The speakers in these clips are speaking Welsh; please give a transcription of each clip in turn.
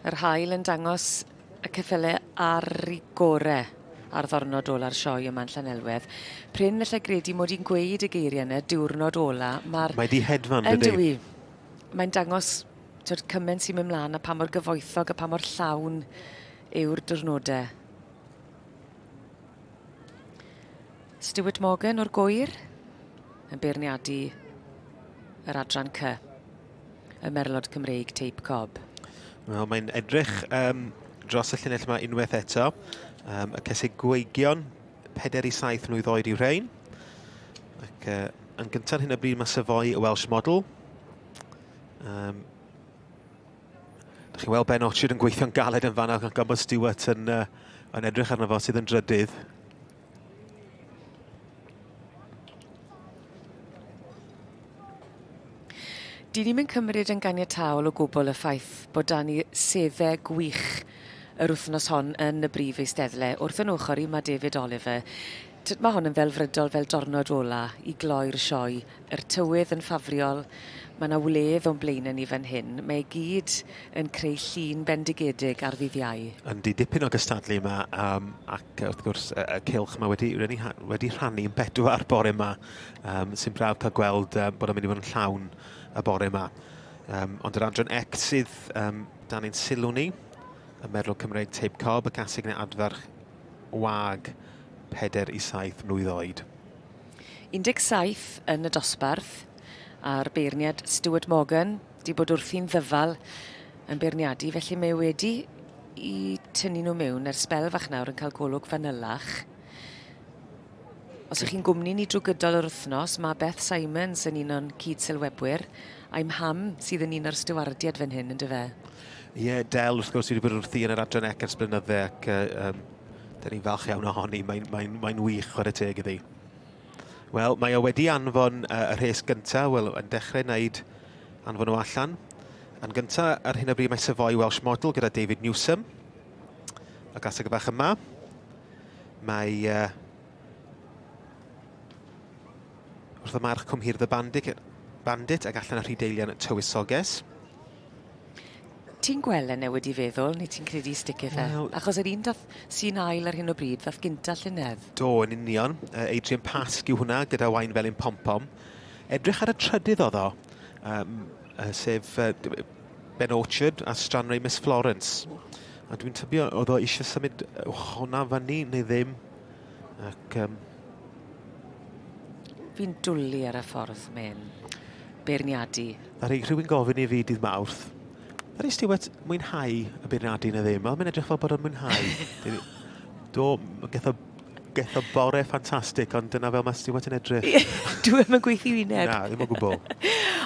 Yr haul yn dangos y ceffylau ar y gore ar ddornod ola'r sioe yma yn Llanelwedd. Pryn felly gredu mod i'n gweud y geiriau yna, diwrnod ola. Mae'r... Mae di hedfan, dydy? Yndw i. Mae'n dangos tyd, cymaint sy'n mynd mlaen a pa mor gyfoethog a pa mor llawn yw'r diwrnodau. Stuart Morgan o'r gwyr yn beirniadu yr adran cy y merlod Cymreig Teip Cob. Wel, mae'n edrych um, dros y llinell yma unwaith eto. Um, y cysig gweigion, 4 i 7 mlwydd oed i'w rhain. Ac uh, yn gyntaf hyn o bryd mae Savoy y Welsh Model. Um, Dych chi'n weld Ben Orchard yn gweithio'n galed yn fanna, gan Gobert Stewart yn, uh, yn edrych arno fo sydd yn drydydd. Dyn ni'n mynd cymryd yn ganiataol o gwbl y ffaith bod dan ni sedde gwych yr wythnos hon yn y brif eisteddle. Wrth yn ochr i mae David Oliver. Tyd, mae hon yn ddelfrydol fel dornod ola i gloi'r sioe. Yr tywydd yn ffafriol, mae yna wledd o'n blaenau ni fan hyn. Mae e gyd yn creu llun bendigedig ar ddydd Iau. Yndi, dipyn o gystadlu yma, um, ac wrth gwrs y, y cylch mae wedi, wedi, wedi rhannu yn bedwar bore yma, um, sy'n braf cael gweld um, bod yn mynd i fod yn llawn y bore yma. Um, ond yr adran ect sydd um, dan ein sylw ni, y merlw Cymreig Teip Cob, y casig neu adfarch wag, pedair i saith mlwydd oed. 17 yn y dosbarth, a'r beirniad Stuart Morgan 'di bod wrthi'n ddyfal yn beirniadu, felly mae wedi i tynnu nhw mewn ar sbel fach nawr yn cael golwg fanylach. Os ych chi'n gwmni ni drwy gydol yr wythnos, mae Beth Simons yn un o'n cyd-sylwebwyr, a'i mham sydd yn un o'r stiwardiaid fan hyn, yn dy fe? Ie, yeah, Del, wrth gwrs, wedi bod wrthi yn yr adran ec ers blynydde ac uh, um, da ni'n falch iawn ohoni. Mae'n mae, mae, mae wych, chwarae teg iddi. Wel, mae o wedi anfon uh, y rhes gyntaf, wel, yn dechrau wneud anfon o allan. Yn gyntaf, ar hyn o bryd mae Savoy Welsh Model gyda David Newsom. Y gaseg y bach yma. Mae... Uh, wrth y march cwmhirdd y bandit, bandit ac allan y rhydeilian tywysoges. Ti'n gwel e newid i feddwl neu ti'n credu stick it fe? Wel... Achos yr un dath sy'n ail ar hyn o bryd ddath gynta llynedd. Do, yn union. Uh, Adrian Pasg yw hwnna gyda wain felyn pom-pom. Edrych ar y trydydd oddo, um, uh, sef uh, Ben Orchard a Stranrei Miss Florence. A dwi'n tybio oedd o eisiau symud hwnna fyny neu ddim. Ac um, fi'n dwlu ar y ffordd mae'n beirniadu. A rhaid rhywun gofyn i fi dydd mawrth, Ar ei Stewart, mwynhau y beirniadu neu ddim. Mae'n edrych fel bod o'n mwynhau. Do, getho, getho bore ffantastig, ond dyna fel mae Stewart yn edrych. Dwi ddim yn gweithio i neb. Na, ddim o gwbl.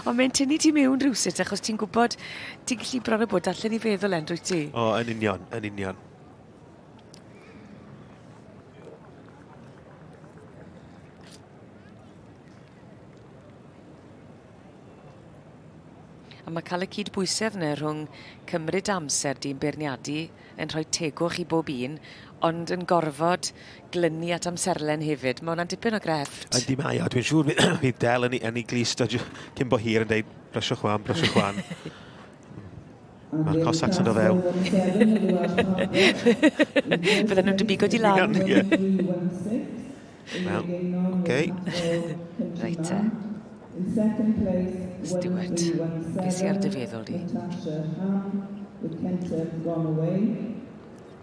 ond mae'n tynnu ti mewn rhywsut, achos ti'n gwybod, ti'n gallu bron o bod allan i feddwl, Andrew, ti? O, yn union, yn union. A mae cael y cydbwysedd yna rhwng cymryd amser di'n beirniadu yn rhoi tegwch i bob un, ond yn gorfod glynu at amserlen hefyd. Mae hwnna'n dipyn o grefft. Yndi mae o. Dwi'n siŵr fydd Del yn ei glust cyn bo hir yn dweud, brysio chwan, brysio chwan. Mae'r Cossacks yn do fewn. Fydden nhw'n dybigo di lan. Wel, oce. Reit te. Stuart, beth sydd ar dy feddwl di?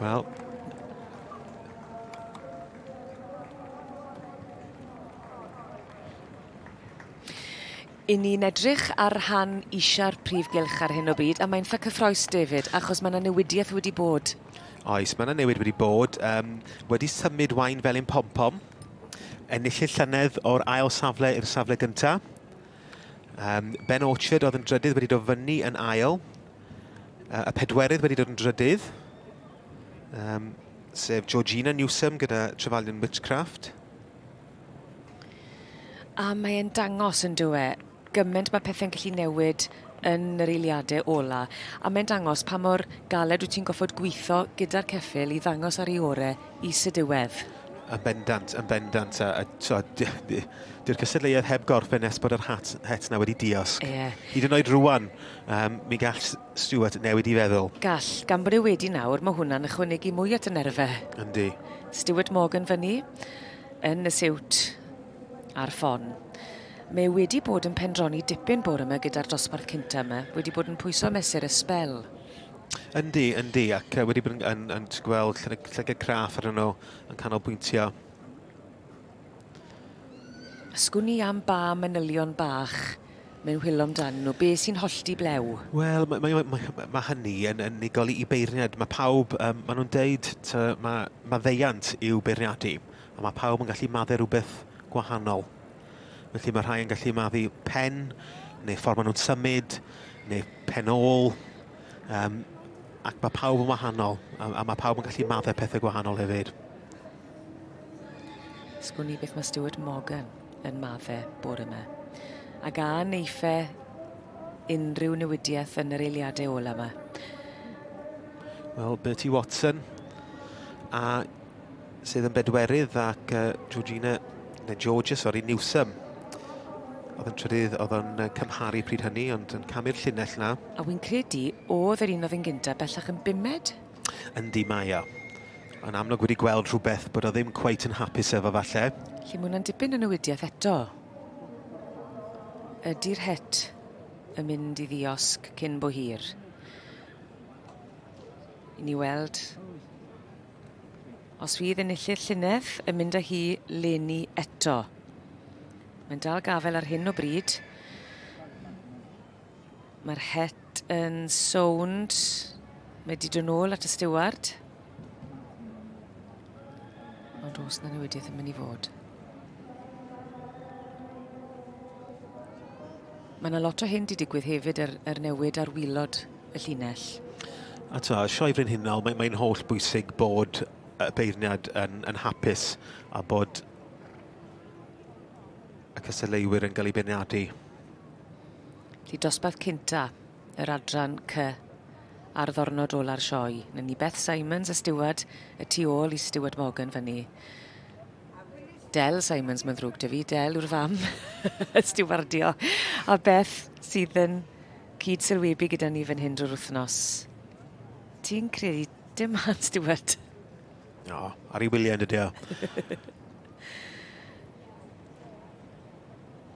Wel, i ni'n edrych ar rhan eisiau'r prif gylch ar hyn o bryd, a mae'n ffy cyffroes, David, achos mae yna newidiaeth wedi bod. Oes, mae yna newid wedi bod. Um, wedi symud wain fel un pom-pom, ennill y llynedd o'r ail safle i'r safle gyntaf. Um, ben Orchard oedd yn drydydd wedi dofynu yn ail, Y pedwerydd wedi dod yn drydydd, um, sef Georgina Newsom gyda Trefalion Witchcraft. A mae'n dangos yn dywe, gymaint mae pethau'n gallu newid yn yr eiliadau ola. A mae'n dangos pa mor galed wyt ti'n goffod gweithio gyda'r ceffil i ddangos ar ei ore i sydiwedd. Yn bendant, yn bendant. A, a, so, Dyw'r cystadleuaeth heb gorffen nes bod yr hat, het na wedi diosg. Yeah. Hyd yn oed rwan, Yym, mi gall S- Stuart newid 'i feddwl. Gall, gan bod e wedi nawr, ma' hwnna'n ychwanegu mwy at y nerfe. Yndi. Stuart Morgan fyny, yn y siwt, ar ffon. Mae wedi bod yn pendroni dipyn bore yma gyda'r dosbarth cynta yma, wedi bod yn pwyso mesur y sbel. Yndi, yndi, ac wedi bod yn, yn, yn gweld llygad craff arnyn nhw yn canolbwyntio. A sgwn i am ba manylion bach mae'n hwylo amdanyn nhw? Be sy'n hollti blew? Wel, mae, mae, mae, mae hynny yn, yn unigol i beirniad. Mae pawb, um, maen nhw'n deud, ta, mae maddeiant i'w beirniadu, a mae pawb yn gallu maddau rhywbeth gwahanol. Felly mae rhai yn gallu maddu pen, neu ffordd maen nhw'n symud, neu pen ôl, um, ac mae pawb yn wahanol, a, a mae pawb yn gallu maddau pethau gwahanol hefyd. Sgwn i beth mae Stuart Morgan yn madde bore yma. Ac a neiffe unrhyw newidiaeth yn yr eiliadau ola yma? Wel, Bertie Watson, a sydd yn bedwerydd ac uh, Georgina, neu Georgia, sori, Newsom. Oedd yn trydydd, oedd o'n cymharu pryd hynny, ond yn camu'r llinell na. A wy'n credu, oedd yr un oedd yn gyntaf bellach yn bumed? Yndi, mae o. Yn amlwg wedi gweld rhywbeth bod o ddim cweit yn hapus efo falle. Lle mae hwnna'n dipyn o newidiaeth eto. Ydy'r het yn mynd i ddiosg cyn bo hir? I ni weld os fydd enillydd llynedd yn mynd â hi leni eto. Mae'n dal gafel ar hyn o bryd. Mae'r het yn sownd. Mae wedi dod nôl at y stiward. Ond os na newidiaeth yn mynd i fod. Mae yna lot o hyn wedi digwydd hefyd yr, er, yr er newid ar wylod y llinell. A ta, Sioe Brenhinol, mae'n mae holl bwysig bod y beirniad yn, yn hapus a bod y cystadleuwyr yn cael ei beirniadu. Felly dosbarth cynta yr adran cy ar ddornod ola'r sioe. Na ni Beth Simons a Stewart y tu ôl i Stewart Morgan fyny. Del Simons, mae'n ddrwg dy fi. Del yw'r fam stiwardio. A Beth sydd yn cyd sylwebu gyda ni fan hyn drwy'r wythnos. Ti'n credu dim han Stewart? No, ar ei wyliau yn dydio.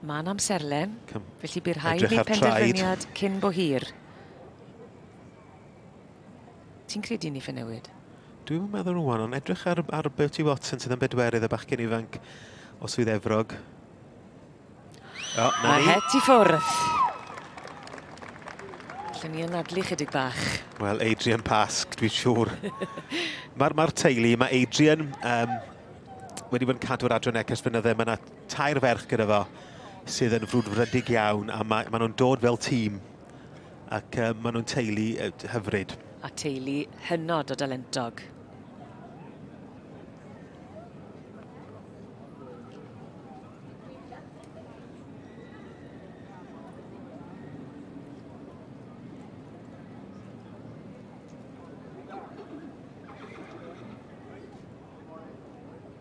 Mae'n amserlen, felly bydd rhaid wneud penderfyniad cyn bo hir. Ti'n credu ni ffe newid? Dwi'n meddwl rwan, ond edrych ar, ar Bertie Watson sydd yn bedwerydd y bachgen ifanc o Swydd Efrog. O, na Mae het i ffwrdd. Lle ni yn adlu chydig bach. Wel, Adrian Pasg, dwi'n siŵr. Mae'r ma teulu, mae Adrian um, wedi bod yn cadw'r adran ecas fynydde. Mae yna tair ferch gyda fo sydd yn frwdfrydig iawn a mae, maen nhw'n dod fel tîm ac uh, maen nhw'n teulu uh, hyfryd. A teulu hynod o dalentog.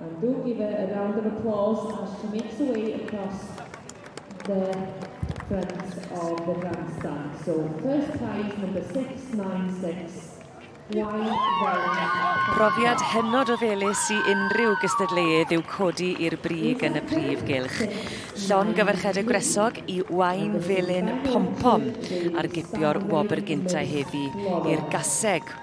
And do give her a round of applause as she makes her way across the front of the grandstand. So first prize number 696 Profiad hynod o felus i unrhyw gystadleuedd yw codi i'r brig yn y prif gylch. Llon gyfarchedd y gwresog i Wain Felin Pompom ar gipio'r wobr gynta heddi i'r gaseg